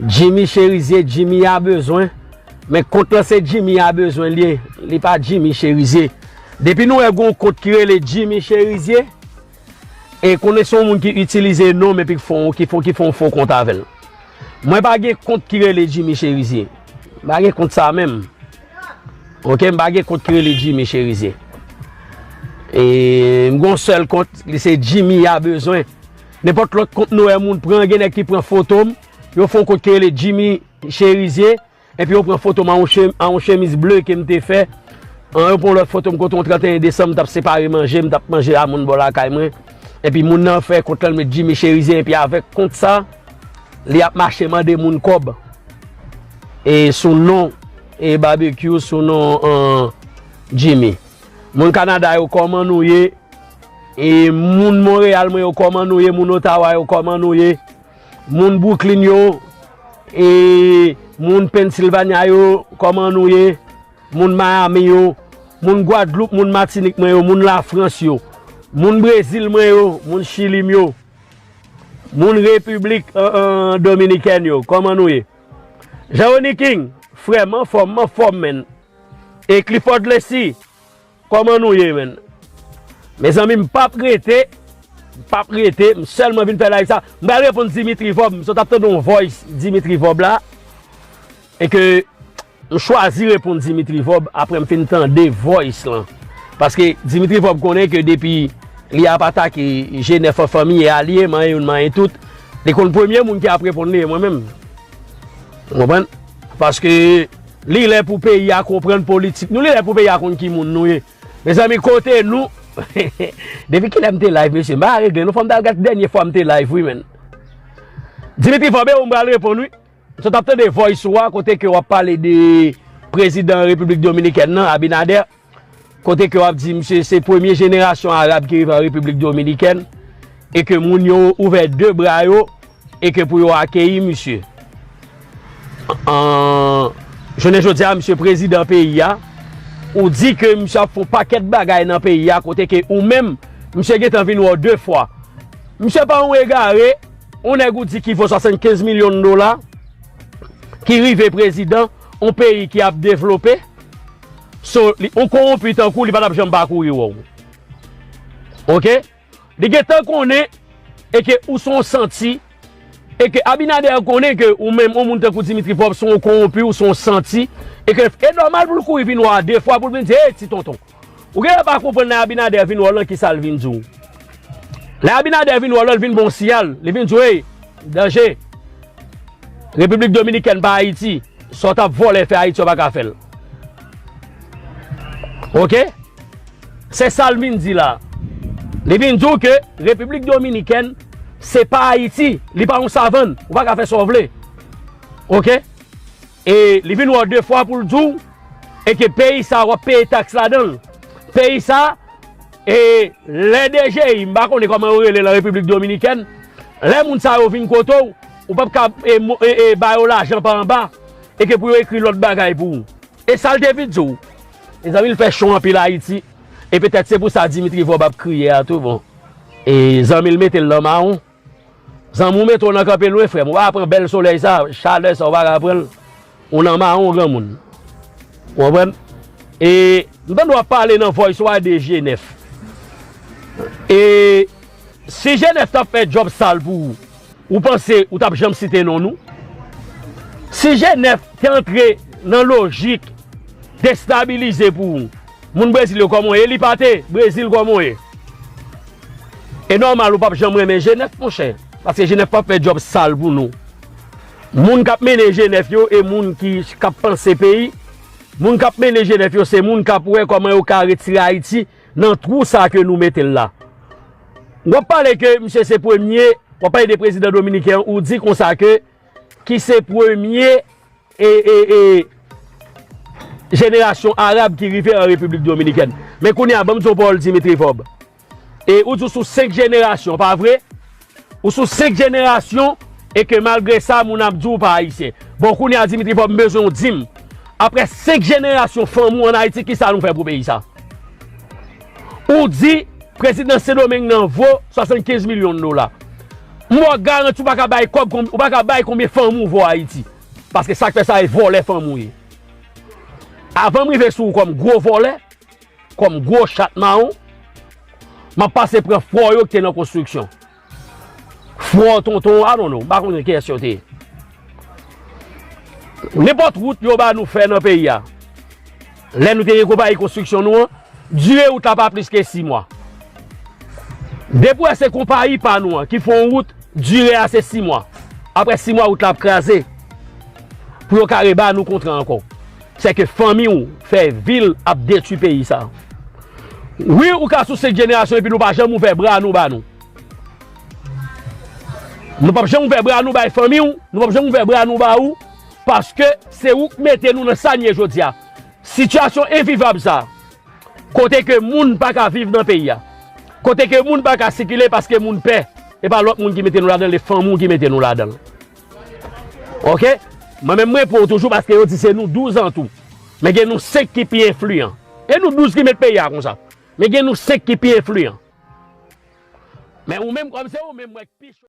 Jimmy cherizier Jimmy a bezwen men kont lan se Jimmy a bezwen liye li pa Jimmy cherizier depi nou wè gon kont ki rele Jimmy cherizier e konnen son moun ki itilize nom epi ki fon ki fon ki fon fo kont avèl mwen pa gen kont ki rele Jimmy cherizier m pa gen kont sa menm ok m pa gen kont ki rele Jimmy cherizier e m gon sèl kont li se Jimmy a bezwen. Nenpòt lòt kont Noè moun pran gen nèg ki pran foto m, yo fon kont ki rele Jimmy Cherizier epi yo pran foto m an yon chemiz ble ke m te fè, an yo pran yon lòt foto m kote yon 31 desanm m t ap separe manje, m t ap manje a moun bò lakay mwen epi moun nan fè kont lan l met Jimmy Cherizier epi avèk kont sa li ap mache mande moun kòb e sou non e Barbecue sou non Jimmy. Moun Canada yo kòman nou ye? E moun Montréal mwen yo koman nou ye moun Ottawa yo koman nou ye moun Brooklyn yo e moun Pennsylvania yo koman nou ye moun Miami yo moun Guadeloupe moun Martinique mwen yo moun la France yo moun Brésil mwen yo moun Chili mwen yo moun République Dominicaine yo koman nou ye Jean Rony King frèm anfòm m'en fòm menn e Clifford Lessie. Koman nou ye menn. Mezanmi m pap rete m pap rete m selman vin fè live sa m pral reponn Dimitri vorb m sot ap tande yon voice Dimitri vorb la e ke m chwazi reponn Dimitri vorb aprè m fin tande voice lan paske Dimitri vorb konnen ke depi li ap atake G9 an fanmi e alye manyen youn manyen tout li konn premye moun ki ap reponn li e mwen menm ou konprann paske. Li lè pou peyi a konprann politik nou li lè pou peyi a konn ki moun nou ye mezanmi kote nou depi kilè m te live mesye m pa regle non fòm tal gad ki dènye fwa m te live wi menn Dimitri vorbe ou m pral reponn wi m sot ap tande voice ou a kote ke wap pale de prezidan repiblik dominikèn nan Abinader. Kote ke wap di misye se premye jenerasyon Arab ki rive an Repiblik Dominikèn e ke moun yo ouvè de bra yo e ke pou yo akeyi misye. Jounen jodi a misye prezidan peyi a, ou di ke misye ap fon pakèt bagay nan peyi a kote ke ou menm misye gentan vin wè w de fwa. Misye pa yon egare, yon nèg ou di ki vo 75 milyon dola, ki rive prezidan yon peyi ki ap devlope, So li yon konwonpi tankou li pa tap janm pa kouri wè w ok li gentan konnen e ke ou son santi e ke Abinader konnen ke ou menm yon moun tankou Dimitri Vorbe son konwonpi ou son santi e ke e nòmal pou l kouri vin wè w a de fwa pou l vin di ey ti tonton ou genlè pa konprann lè Abinader vin wè w lan kisa l vin di w lè Abinader vin wè w lan l vin ba w siyal li vin di w ey danje Repiblik Dominikèn pa Ayiti sa w tap vòlè fè Ayiti w pa ka fè l. Ok Se sal vin di la Li vin di w ke Repiblik Dominikèn se pa Ayiti Li pa yon savann Ou pa ka fè sa w vle Ok E li vin wè w de fwa pou l di w E ke peyi sa wap peye taks ladan l Peyi sa E lè DGI M pa konnen kòman yo rele lan Repiblik Dominikèn Lè moun sa yo vin kote w Ou pap ka e ba yo lajan pa anba E ke pou yo ekri lòt bagay pou ou. E sal te vin di w. Mezanmi l fè cho anpil ayiti e petèt se pou sa Dimitri Vorbe ap kriye a tou bon e zanmi l mete l nan mawon zanmi w mete w nan kanpe lwen frè m ou pa ka pran bèl solèy sa chalè sa ou pa ka pran l ou nan mawon granmoun ou konprann e m tande w ap pale nan voice ou a de jenèf e. Si Genève tap fè job sal pou ou, ou panse ou tap janm site non nou? Si Genève te antre nan lojik destabilize pou ou, moun Brezil yo kòman ye li pa te, Brezil kòman ye? E nòmal ou pap janm renmen Genève monchè, paske Genève pap fè job sal pou nou. Moun kap mennen Genève yo e moun ki kap panse peyi, moun kap mennen Genève yo se moun kap wè kòman yo ka retire Ayiti Nan trou sa ke nou metel la. Wap pale ke misye se premye, wap pale de prezidan dominiken an ou di konsa ke ki se premye e e e jenerasyon arab ki rive an Repiblik Dominikèn. Men kounye a banm di w pawòl Dimitri Vorbe. E ou di w sou 5 jenerasyon pa vre? Ou sou 5 jenerasyon e ke malgre sa moun ap di ou pa ayisyen. Bon kounye a Dimitri Vorbe m bezwen ou di m aprè 5 jenerasyon fanmi ou an Ayiti kisa nou fè pou peyi sa? Ou di prezidan Sendomeng nan vo 75 milyon dola. M ba w garanti ou pa ka bay kòb ou pa ka bay konbyen fanmi ou vo Ayiti. Paske sa k fè sa e vòlè fanmi ou ye. Avan m rive sou ou kòm gwo vòlè. Kòm gwo chat mawon, m ap pase pran fwò yo ki te nan konstriksyon. Fwò tonton I don't know, m pa konnen kiyès yo te ye. Nenpòt wout yo ba nou fè nan peyi a, lè nou te gen konpayi konstriksyon nou an, dire wout la pa plis ke 6 mwa. Depi w wè se konpayi pa nou an ki fè yon wout, dire a se 6 mwa. Aprè 6 mwa wout la ap kraze pou yo ka reba nou kontra ankò. Se ke fanmi ou fè vil ap detwi peyi sa. Wi ou ka sou 5 jenerasyon epi nou pa janm ouvè bra nou ba nou. Nou pap janm ouvè bra nou bay fanmi ou, nou pap janm ouvè bra nou ba ou, paske se ou k mete nou nan sa n ye jodi a. Sitiyasyon envivab sa, kote ke moun pa ka viv nan peyi a, kote ke moun pa ka sikile paske moun pè, e pa lòt moun ki mete nou ladan l, e fanmi ou ki mete nou ladan l. Ok Mwen menm mwen pou ou toujou paske yo di se nou 12 an tou Men gen nou 5 ki pi enfliyan E nou 12 ki met peyi a konsa Men gen nou 5 ki pi enfliyan Men ou menm kòm se ou menm mwen k pi cho.